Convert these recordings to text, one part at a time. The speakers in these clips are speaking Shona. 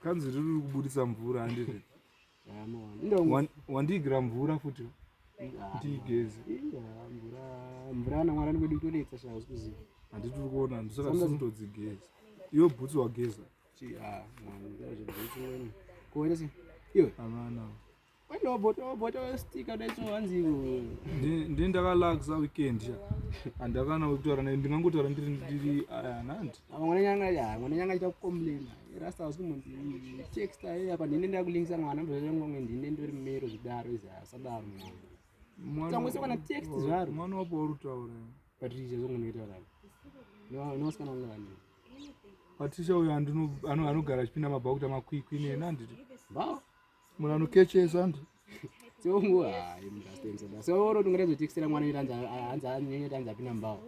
kanzi riri kubudisa mvura handii wandiigira mvura futi ndiigeze mvura namwari anikuda kutonetsa shaa zikuziva handiti uri kuona ndisaka tisintodzigeza iyo bhutsu wageza ah, kuonese iwe amana ndi ndakalakisa weekend ya handakana kutaura naye ndingangotaura ndiri ndiri anhandi ah, mwana nyanga ya mwana nyanga aita kucomplaina rasta usiku munzi text aye apa ndine ndakulingisa mwana ndozvangomwe ndine ndori mero zvidaro izi asadaro mwana tangose kana text zvaro mwana wapo wari kutaura patricia zvongo ndinotaura nowasikana wanga vani patricia uyo anogara achipinda mabhakuta makwikwi nena nditi mbao Munhu anokechesa hanzi. Tongu hayi munhu asitengesa basa. So oro tungere zotikisira mwana iri hanzi hanzi anyenye hanzi apina mbawo.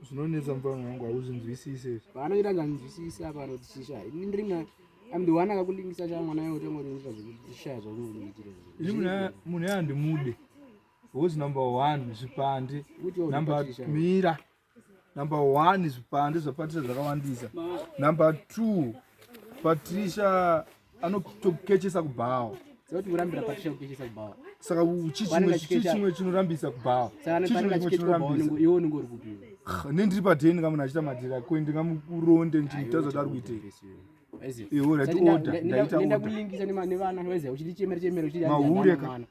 Zvinonetsa mfana wangu hauzvinzwisise. Paanoita hanzi anzwisise apa anotishisha. Ini ndiri mwana I'm the one akakulingisa cha mwana yao tongo rinisa zvekutisha zvakunoitira. Ini munhu munhu andimude. Who's number 1 zvipandi. Number mira. Number one zvipande zvapatricia zvakawandisa number two patricia anotokechesa kubhawa saka chichimwe chinorambisa kubhawa nendiri padheni ndingamunhu achita madhira kwe ndingamuronde ndichimutaza kuti ari kuitei iwo rati order ndaita order mahure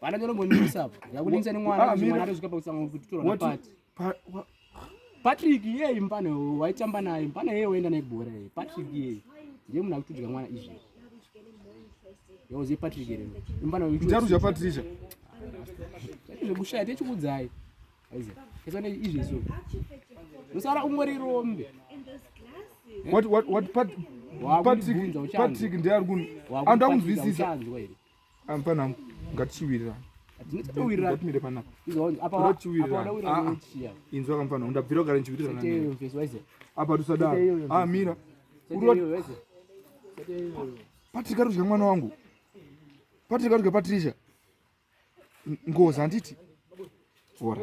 Vana chero ngonyisa apo. Yakuningisa nemwana ah, mwana atosvika pakusango kuti tora na party. Patrick yeye mpane waitamba naye mpane yeye waenda naye bhora yeye Patrick yeye ndiye munhu akutudya mwana izvi. Yoze Patrick yeye mpane uyu. Njaru zva Patrick. Zvekushaya techikudzai. Aiza. Kesa ne izvi so. Musara umori rombe. What what what Patrick Patrick ndiye ari kun. Andakunzwisisa. Amfana ngatichiwirira. Ndinotaurira kuti mire panapa. Apa wadaurira ndochiya. Inzwa kamfana undabvira kugara nchiwirira nani. Teyo mfesi waize. Apa tusadaro. Ah mira. Uroti waize. Teyo. Patrick ari kudya mwana wangu. Patrick ari kudya Patricia. Ngozi handiti? Ora.